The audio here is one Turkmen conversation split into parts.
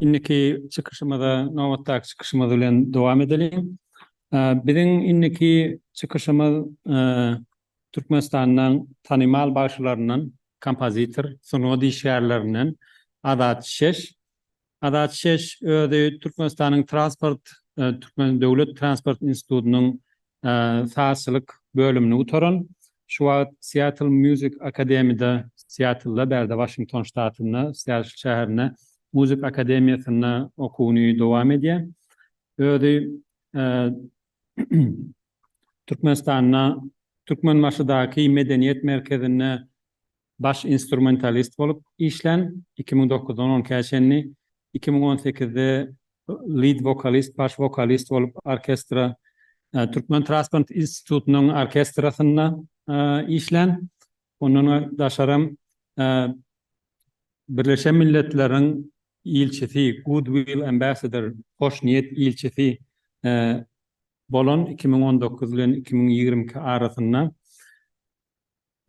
Indiki çykyşymyza nobatdaky çykyşymyz bilen dowam edeliň. Biziň indiki çykyşymyz Türkmenistanyň tanymal bagşylaryndan, kompozitor, sungat işgärlerinden Azat Şeş Azat Şeş özi Türkmenistanyň Transport Türkmen döwlet transport institutynyň sazçylyk bölümini gutaran. Şu wagt Seattle Music Academy'da, Seattlda, bärde Waşington ştatynda, Seattle şäherinde muzyk akademiýasynda okuwyny dowam edýär. Özi Türkmenistanda Türkmenbaşydaky medeniýet merkezinde Baş instrumentalist bolup işlän, iki müň dokuzdan on ikä çenli, iki müň on sekizde lead wokalist, baş wokalist bolup orkestra, Türkmen Transport institutynyň orkestrasynda işlän. Ondan daşaram Birleşen Milletleriň ilçisi, Good Will Ambassador, Hoş niýet ilçisi, bolan iki müň on dokuz bilen iki müň ýigrimi iki arasynda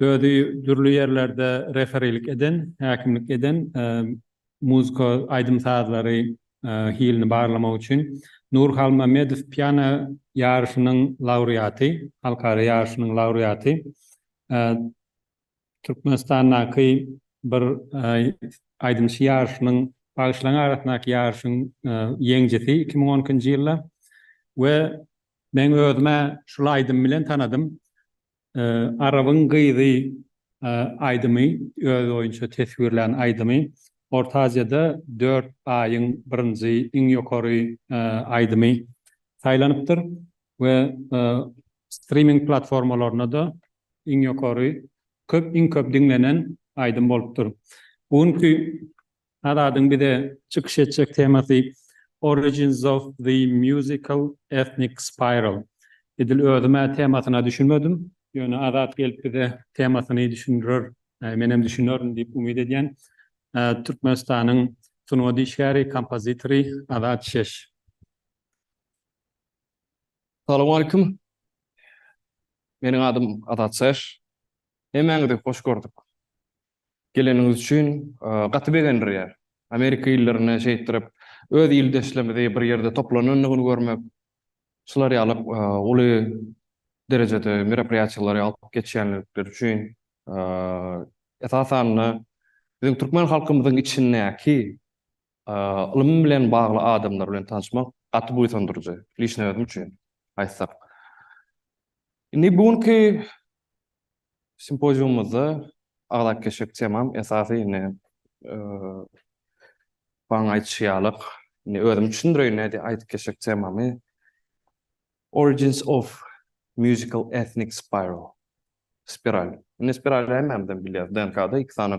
Özi dürli ýerlerde referilik eden, häkimlik eden, muzka, aýdym-sazlary hilini barlamak üçin Nur Halmamedow piano ýaryşynyň laureaty, halkara ýaryşynyň laureaty. Türkmenistandaky bir aýdymçy ýaryşynyň, bagşylaryň arasyndaky ýaryşyň ýeňjisi iki müň on ikinji ýylda we men özüm-ä şul aýdym bilen tanadym. Arabyň gyzy aýdymy öz boýunça teswirlän aýdymy Orta Aziýada dört aýyň birinji iň ýokary aýdymy saýlanypdyr we striming platformalarynda-da iň ýokary köp iň köp diňlenen aýdym bolupdyr. Bu günki Azadyň bize çykyş etjek temasy Origins of the Musical Ethnic Spiral. Edil özüm-ä temasyna düşünmedim. Ýöne Azat gelip bize temasyny düşündirer, menem düşünerin diýip umyt edýän. Türkmenistanyň sungat işgäri, kompozitory Azat Şeş. Salowmaleýkim. Meniň adym Azat Şeş. Hemmäňizi hoş gördük. Geleniňiz üçin gaty begendirýär. Amerika illerini şeýtdirip öz ildeşlerimizi bir ýerde toplanandygyny görmek, şular ýaly uly derejede merapryýaçyklary alyp geçýänlikleri üçin esasan-da biziň türkmen halkymyzyň içindäki ylym bilen bagly adamlar bilen tanyşmak gaty buýsandyryjy, lişne özüm üçin aýtsak. Indi bu günki Simpoziumymyzda aglak keşik temam esasy indi Baň aýdyşy ýaly indi özüm düşündireýin nädip aýdyp geçjek temamy Origins of Musical Ethnic Spiral spiral. Indi spirali hemmämizem bilýäris DNK-da iki sany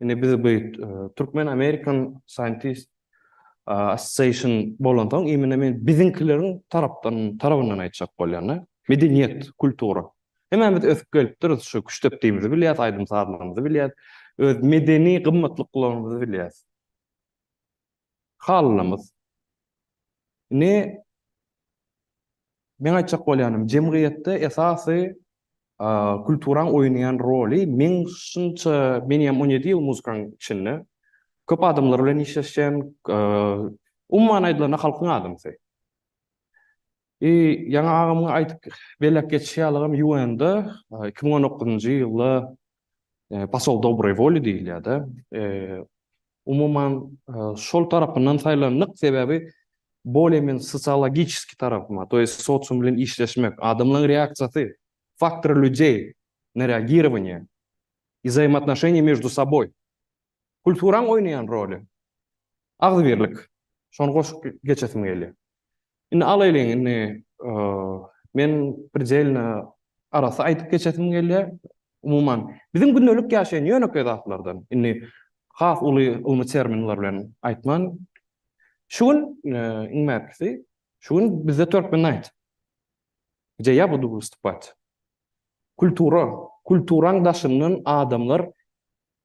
Indi biz bu Türkmen American Scientist Association bolansoň, imine men biziňkileriň tarapdan tarabyndan aýtjak bolýan-da. Medeniýet, kultura. Hemmämiz ösüp gelipdiris, şu küştdepdigimizi bilýäs, aýdym-sazlarymyzy bilýäs, öz medeni gymmatlyklaryňyzy bilýäs. Halynamys. Indi meň aýtjak bolýanym, jemgyýetde esasy kulturaň oýnaýan roly, meň şunça, men ýam on ýedi ýyl muzykanyň içinde, köp adamlar bilen işleşen, umuman aýdylanda halkyň adamsy. I ýaňy agamyň aýdyp belläp geçişi ýalygam ýuanda iki müň on dokuzynjy ýylda Posol dobroý woli diýilýärdi. Umuman şol tarapyndan saýlandyk, sebäbi bolýa men sosiologiçeski tarapyma, to ýest sosium bilen işleşmek, adamlaň reaksiýasy, faktory lýudey na reagirowaniýe, izaýmatnoşeniýe mieždu soboý, kulturaň oýnaýan roly, agzybirlik, şony goşup geçesim gelýär. Indi alaýlyň, indi men predelno arassa aýdyp geçesim gelýär. Umuman, biziň gündelik ýaşaýan ýönekeý zatlardan, indi has uly ylmy terminler bilen aýtman, şu gün, iň mäkisi, şu gün bizde Turkmen Night, gdje ýa budu wystupat. Kultura, kulturaň daşyndan adamlar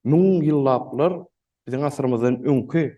müň ýyllaplar, biziň asyrymyzdan öňki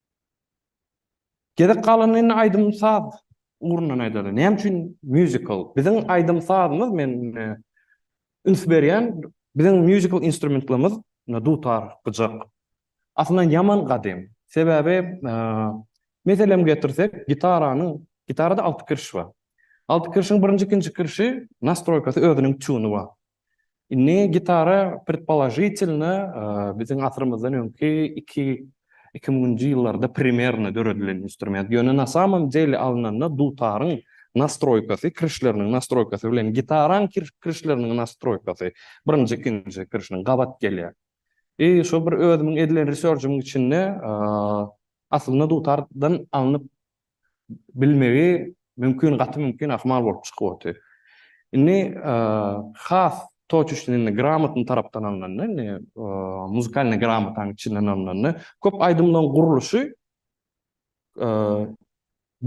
Gezek galanda indi aýdym-saz ugrundan aýdaly. Näme üçin mýuzikl? Biziň aýdym-sazymyz men üns berýän, biziň mýuzikl instrumentlerimiz dutar, gyjak. Aslynda ýaman gadym. Sebäbi meselem getirsek, gitaranyň, gitarada alty kirş bar. Alty kirşiň birinji, ikinji kirşi nastroýkasy özüniň tuny bar. Indi gitara predpoložitelno biziň asyrymyzdan öňki iki iki müňünji ýyllarda primerno döredilen instrument. Ýöne na samom dele alnanda dutaryň nastroýkasy, kirişleriniň nastroýkasy bilen gitaraň kirişleriniň nastroýkasy birinji ikinji kirişiniň gabat gelýär. I şo bir özümiň edilen research-ymyň içinde aslynda dutardan alnyp bilmegi mümkin gaty mümkin ahmal bolup çykyp otyr. Indi has toçuşdyn indi gramotny tarapdan alnanda indi muzykalny gramotanyň içinden alnanda köp aýdymlaryň gurluşy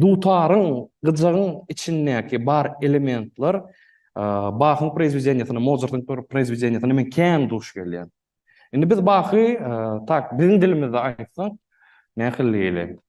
dutaryň gyjagyň içindäki bar elementler Bahyň proizwedeniýesinde Mozartyň proizwedeniýesinde men kän duş gelýän. Indi biz Bahy tak biziň dilimizde aýtsak nähili diýeli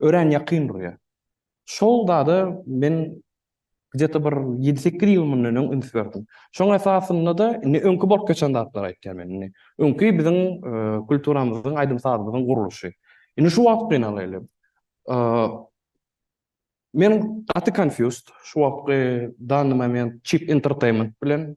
örän ýakyn durýar. Şol zada men gde-de bir ýedi-sekiz ýyl mundan öň üns berdim. Şoň esasynda-da indi öňki bolup geçen zatlary aýtýan men indi. Öňki biziň kulturamyzyň, aýdym-sazymyzyň gurluşy. Indi şu wagt gynalaýly. Men gaty confused şu wagtky dany moment Cheap Entertainment bilen.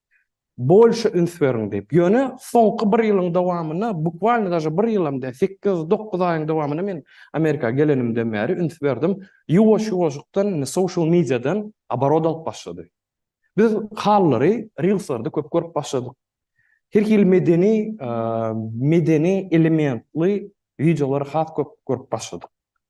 bolşa üns beriň diýip. Ýöne soňky bir ýylyň dowamynda, bukvalno daže bir ýylam däl, sekiz, dokuz aýyň dowamynda men Amerika gelenimden bäri üns berdim, ýuwaş-ýuwaşykdan indi social media-dan oborot alyp başlady. Biz halylary rilslarda köp görüp başladyk. Her hili medeni, medeni elementli wideolary has köp görüp başladyk.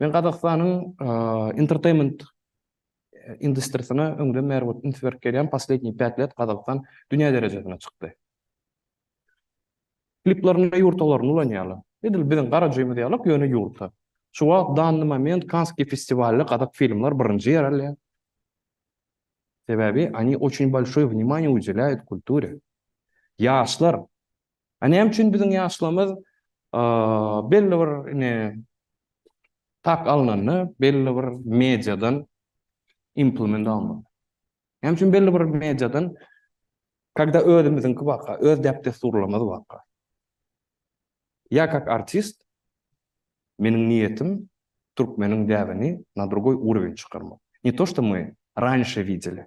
Men Gazagystanyň entertainment industriýasyna öňden bäri bolup üns berip gelýän poslednýi pät let Gazagystan dünýä derejesine çykdy. Kliplerinde ýurtalaryny ulanýarlar. Edil biziň garajygymyz ýalak, ýöne ýurta. Şu wagt danny moment Kanskiý festiwalynda gazak filmler birinji ýer alýar. Sebäbi, oni oçün bolşoý wnimanýe udeläýýut kulture. Ýaşlar A näme üçin biziň ýaşlarymyz belli bir ine tak alnanda belli bir mediadan implement almaly. Näme üçin belli bir mediadan kada özümiziňki barka, öz däp-dessurlarymyz barka. Ýa kak artist meniň niýetim türkmeniň däbini na drugoý urowen çykarmak. Ne to, şto my ranşe wideli.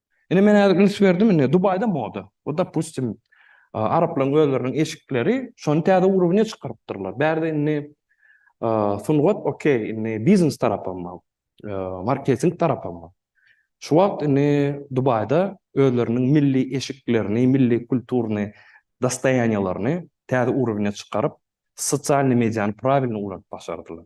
Ine men häzir üns berdim indi Dubaýda moda. Bu dopustim araplaryň özleriniň eşikleri şony täze urowne çykarypdyrlar. Bärde indi sungat okey, indi biznes tarapam bar. Marketing tarapam bar. Şu wagt indi Dubaýda özleriniň milli eşiklerini, milli kulturny dostoýaniýalaryny täze urowne çykaryp, sosialny mediany prawilny ulanyp başardylar.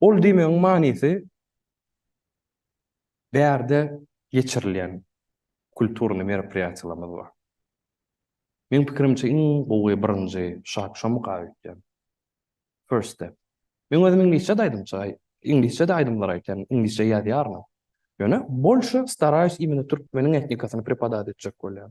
Ol diýmegiň manysy bärde geçirilýän kulturny merapryýatiýalarymyz bar. Meň pikirimçe iň gowy birinji şak şomuk aýy öýtýän. First step. Meň özüm iňlisçe-de aýdymçy, iňlisçe-de aýdymlar aýtýan, iňlisçe ýazýaryn hem. Ýöne bolşy staraýus imeni türkmeniň etnikasyny prepodat etjek bolýan.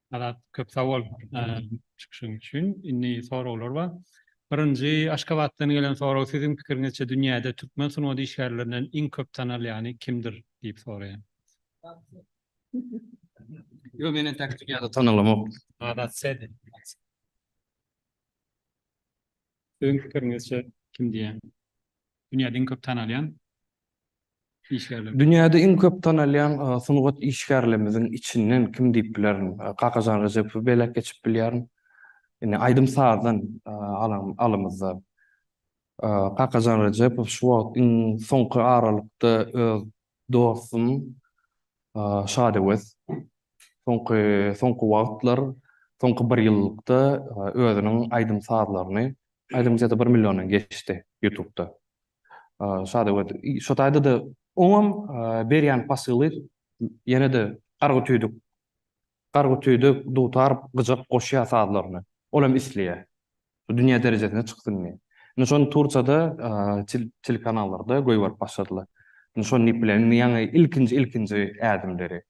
Azat köp sag bol çykyşyň üçin. Indi soraglar bar. Birinji Aşgabatdan gelen sorag siziň pikiriňizçe dünýäde türkmen sungat işgärlerinden iň köp tanalýany kimdir diýip soraýan. Ýok men entäk dünýäde tanalamok. Azat sen. Siziň pikiriňizçe kim diýýän. Dünýäde iň köp tanalýan işgärler. Dünýäde iň köp tanalýan sungat işgärlerimiziň içinden kim diýip bilerin? Kakajan Rejepowy belek geçip bilýärin. Indi aýdym-sazdan alan alymyzda Kakajan Rejepow şu wagt iň soňky aralykda öz Dostum Şadöwez soňky soňky wagtlar, soňky bir ýyllykda özüniň aýdym-sazlaryny, aýdym sesi bir milliondan geçdi ýutubda. Şadöwez şo taýda-da oňam berýän pasyly ýene-de gargy tüýdük Gargy tüýdük, dutar, gyjak goşýar sazlaryny. Ol hem isleýär. Şu dünýä derejesine çyksyn diýip. Indi şony Turçada telekanallarda goýberip başladylar. Indi şony diýip bilen. Indi ýaňy ilkinji ilkinji ädimleri.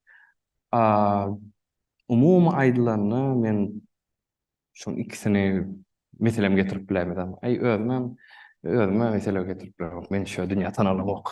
Umumy aýdylanda men şuň ikisini meselem getirip bilemizem. Aý özümem özüme mesele getirip bilemok. Men şo dünýä tanalymok.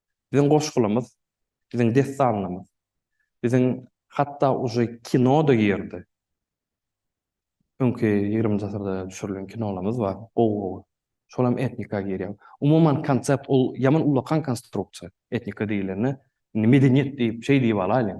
Biziň goşgulymyz, biziň dessanlymyz, biziň hatda uje kino-da girdi. Öňki ýigriminji asyrda düşürilen kinolarymyz bar, gowy-gowy. Şol hem etnika girýär. Umuman konsept ol ýaman ullakan konstruksiýa. Etnika diýilende, indi medeniýet diýip, şeý diýip alaýlyň.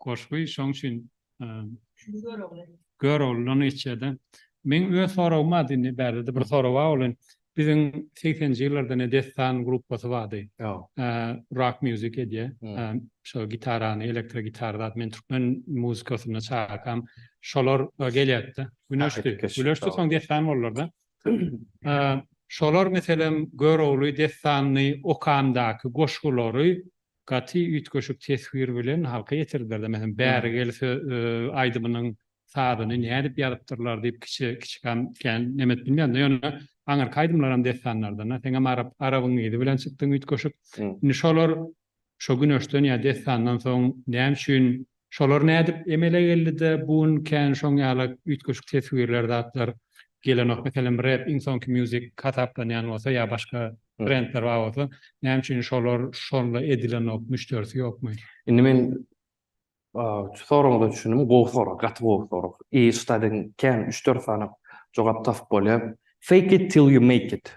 Goşgy şoň üçin Göroglydan geçýärdi. Meň öz soragym bardy indi bärde-de bir sorag bar ol hem biziň segsenji ýyllarda ne Dessan gruppasy bardy. Rock music edýär. Şo gitarany, elektro gitara zat men türkmen muzykasynda çakam şolar gelýärdi-de. Güneşdi. Güleşdi soň Dessan boldular-da. Şolar meselem Görogly, Dessanny okandaky goşgulary Gaty üýtgeşik teswir bilen halka ýetirdiler-de, meselem, Bäri gel sö aýdymynyň sazyny nädip ýazypdyrlar diýip kiçi kiçikam kän neme edip bilmeýärdim-de, ýöne aňyrky aýdymlaram dessanlardan-a, seňem arap arabyň yzy bilen çykdyň üýtgeşik. Indi şolar şo Güneşden ýa Dessandan soň näme üçin Şolar nädip emele geldi-de, bu gün kän şoň ýaly üýtgeşik teswirler, zatlar gelenok? Meselem, Rap iň soňky music hasaplanýan bolsa ýa başga brendler bar bolsa, näme üçin şolar şonda edilenok, müşderisi ýokmy? Indi men şu soragyňyza düşündim. Gowy sorag, gaty gowy sorag. I şt-a deň kän üç-dört sany jogap tapyp bolýar. Fake it till you make it.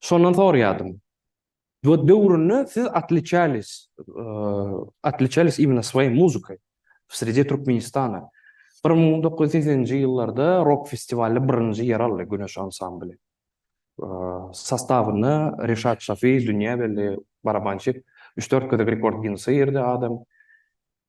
Şondan sorýadym. Bu döwründe siz otliçalis, otliçalis imena swayy muzykay, w sredi Türkmenistana. Bir müň dokuz ýüz segsenji ýyllarda rok festiwalda birinji ýer aldy Güneş ansambly. Sastawynda Reşat Şafi, Dünýä belli barabançy, üç-dört gezek rekord Ginnese girdi adam.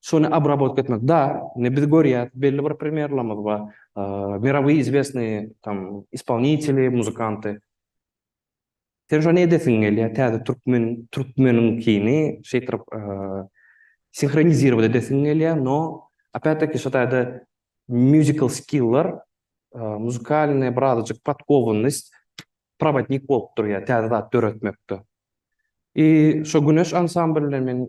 Şony obrabotka etmek. Da, indi biz görýäs, belli bir primerlerimiz bar. Mirowyý izwesnyý tam ispolniteli, muzykanty. Sen şony edesiň gelýär, täze türkmen, türkmeniňkini şeýtrip sinhronizirowat edesiň gelýär, no opet-daki şu taýda mýuzikal skiller, muzykalnyý bir azajyk podkowanyst, prowodnik bolup durýar täze zat döretmekde. I şo Güneş ansambly bilen men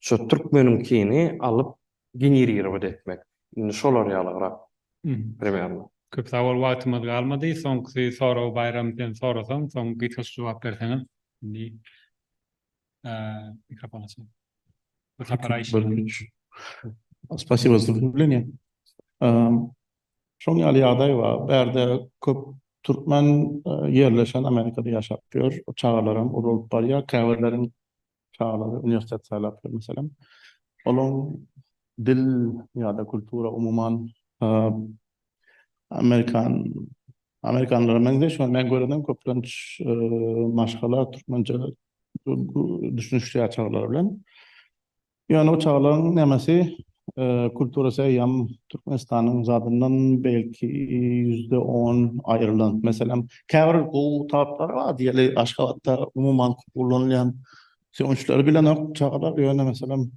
Şu türkmeniňkini alyp genirgirowat etmek. Indi şolar ýalyrak primernno. Köp sag bol wagtymyz galmady soňky soragy Baýram sen sorasaň soň gysgaça jogap berseňiz indi mikrofon açyk. Bu sapara işiňiz. Spasiba za wstuplenýe. Şoň ýaly ýagdaý bar bärde köp türkmen ýerleşen Amerikada ýaşap ýör çagalaram uly bolup barýar käbirleriň çagalar uniwersitet saýlapdyr, meselem. Olaryň dil ýa-da kultura, umuman, amerikan, amerikanlara meňzeş, men görenem köplenç maşgala türkmençe düşünişýär çagalar bilen. Ýöne o çagalaryň nämesi Kulturasy eýýäm Türkmenistanyň zadyndan belki ýüzde on aýrylan. Meselem, käbir gowy taplary bar diýeli Aşgabatda umuman köp ulanylýan. Sögünçleri bilenok çagalar, ýöne meselem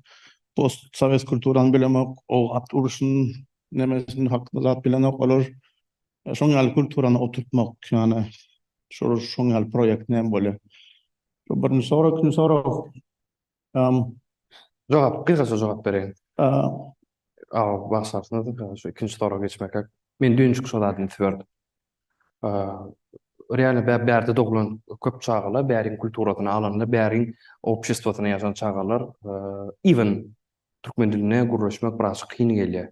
postsowet kulturany bilemok, o at uruşyny nemesini hakda zat bilenok olar. Şoň ýaly kulturany oturtmak, ýagny şol şoň ýaly proýekt näme bolýar? Birinji sorag, ikinji sorag. Um, Jogap, gysgaça jogap bereýin. um, Aw, bagşarsyňyz, gysgaça şu ikinji soraga geçmäkek. Men düýn şu zadyny üns berdim. Um, Real bä- bärde doglan köp çagalar, bäriň kulturasyny alanda, bäriň obşestwosynda ýaşan çagalar, um, even türkmen dilinde gürleşmek biraz kyn gelýär.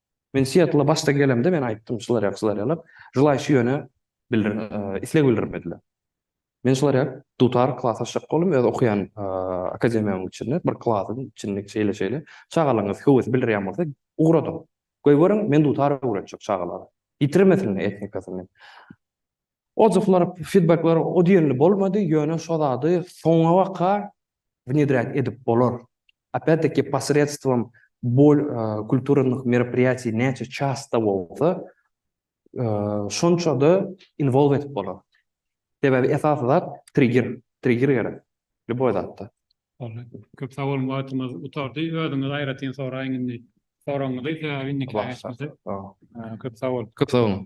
Men Sietla başda gelemde men aýtdym şular ýaly şular ýaly jylaý şu ýöne isleg bildirmediler. Men şular ýaly dutar klas açjak boldum öz okaýan akademiýamyň içinde bir klasyň içinde şeýle şeýle çagalaryňyz höwes bildirýän bolsa ugradyň. Goý görüň men dutar öwretjek çagalara. Ýitirmesinler etnikasyny. Ozalkylary fidbekler o diýenli bolmady, ýöne şo zady soňa baka wnedrýat edip bolar. Opýat deki posredstwom bol kulturannyh merapirýatiý näçe çasta bolsa şonçada inwolw edip bolar. Sebäbi esasy zat trigger, trigger gerek lýuboý zatda. Boldy. Köp sag boluň wagtymyz gutardy. Özüňiz aýratyn soraýyň indi soragyňyzy sebäbi indiki aýatmyzy. Köp sag boluň. Köp sag boluň.